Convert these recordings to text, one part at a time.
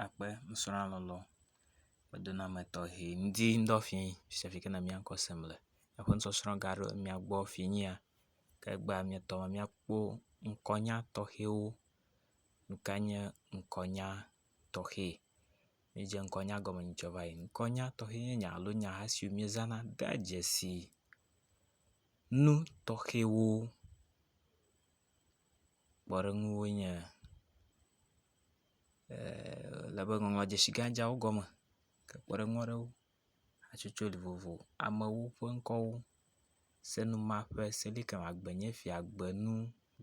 akpe nusrɔ̃la lɔlɔ ƒe denɔame tɔxɛ ŋdi ŋdɔ fi sia fi ke na míakɔ sem le. Eƒe nusɔsrɔ̃ ga ɖo mía gbɔ finyia ke egbea míetɔ be míakpɔ ŋkɔnya tɔxɛwo. Nu kae nye ŋkɔnya tɔxɛ? Míedze ŋkɔnya gɔme yi ŋkɔnya va yi. Ŋkɔnya tɔxɛ nye nya alo nyaha siwo míezãna dea dzesi nu tɔxɛwo. Kpɔɖeŋuwo nye le be ŋɔŋlɔ dzesi gã dzawo gɔme ke kpɔɖeŋu aɖewo hatsotso li vovo amewo ƒe ŋkɔwo senuma ƒe selikɛmɛ agbenye fia gbenu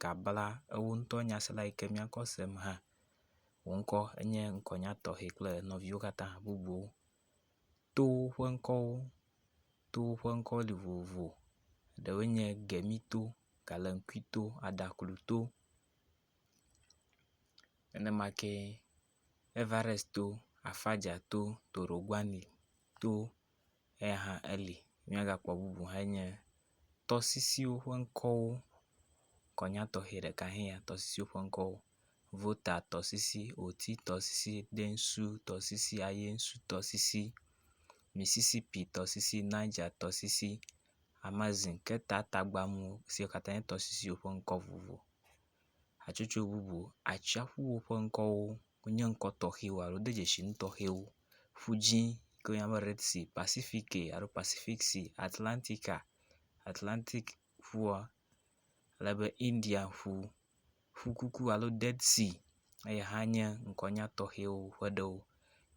gabla ewo ŋutɔ nyasela yike miakɔ sem hã wò ŋkɔ enye ŋkɔ nya tɔxɛ kple nɔviwo katã bubuwo towo ƒe ŋkɔwo towo ƒe ŋkɔ li vovo ɖewoe nye gemito, galamkui to, adaklu to. nenema ke Everest to, Afaja to, Toroguani to eya hã eli. Míagakpɔ bubu hã yi nye tɔsisiwo ƒe ŋkɔwo. Kɔnya tɔxɛ ɖeka hãe ya tɔsisiwo ƒe ŋkɔwo. Vota tɔsisi, Oti tɔsisi, Densu tɔsisi, Ayensu tɔsisi, Misisipi tɔsisi, Niger tɔsisi, Amazin ke ta tagbamu siwo katã nye tɔsisiwo ƒe ŋkɔ vovovo. Hatsotso bubu, atsiaƒuwo ƒe ŋkɔwo nye ŋkɔ tɔxɛwo alo de dzesi nu tɔxɛwo. Ƒu dzi yi ke woyɔna be Red Sea, Pasifiki alo Pasifik Sea, Atlantika, Atlantik ƒua, ale be India ƒu, Ƒu Kuku alo Dead Sea eyi hã nye ŋkɔnya tɔxɛwo ƒe ɖewo.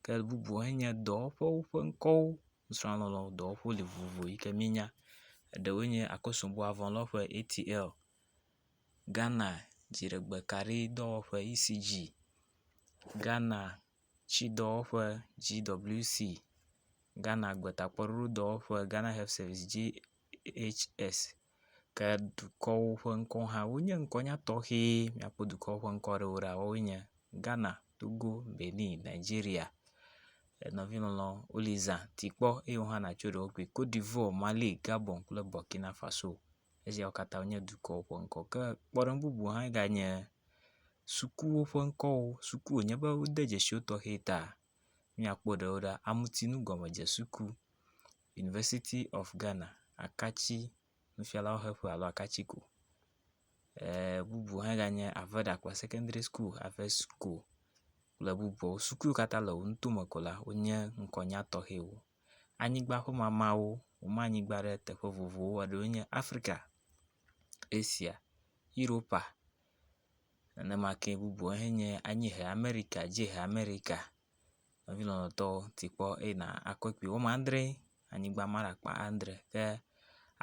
Ke bubu enye dɔwɔƒewo ƒe ŋkɔwo, nusrɔ̃lɔlɔ̃dɔwɔƒewo li vovovo yi ke míenya. Eɖewoe nye Akosombo Avɔlɔ̃ƒe, ATL. Ghana dziɖegbekaɖidɔwɔƒe, ECG, Ghana tsidɔwɔƒe, GWC, Ghana gbetakpɔɖoɖodɔwɔƒe, Ghana Health Service, GHS, ke dukɔwo ƒe ŋkɔ hã wonye ŋkɔnya tɔxɛ. Míakpɔ dukɔwo ƒe ŋkɔ aɖewo ɖa woawoe nye Ghana, Togo, Benin, Nigeria. Enɔvi lɔlɔ wole zã ti kpɔ eye wohã natso ɖe wo gbɔ. Cote d'Ivoire, Mali, Gabon kple Burkina Faso. Esiawo katã nye dukɔwo ƒe ŋkɔ ke kpɔɖeŋu bubu hã ganye sukuwo ƒe ŋkɔwo. Suku wonye be wode dzesi wo tɔxe ta míakpɔ ɖewo ɖa. Amutinu gɔmedze suku, University of Ghana, Akatsi nufialawo xe ƒe alo Akatsi ko. E bubu hã ganye Aveda kple Secondary School, Avesco kple bubuawo. Suku yiwo katã le wo ŋutome ko la wonye ŋkɔnya tɔxɛwo. Anyigba ƒe mamawo woma anyigba ɖe teƒe vovovowo eɖewoe nye Afrika, Asia, Europa nenema ke bubuwo hãe nye anyiehe Amerika, dziehe Amerika. Enye lɔlɔ̃tɔwo ti kpɔ eye nàkpɔe kpli wome adre anyigba ma le akpa adre ke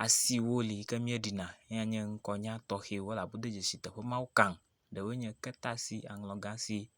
asiwo li ke míeɖina eyae nye ŋkɔnya tɔxɛwo elabe wode dzesi teƒe mawo kam. Ɖewoe nye ketasi, aŋlɔgasi.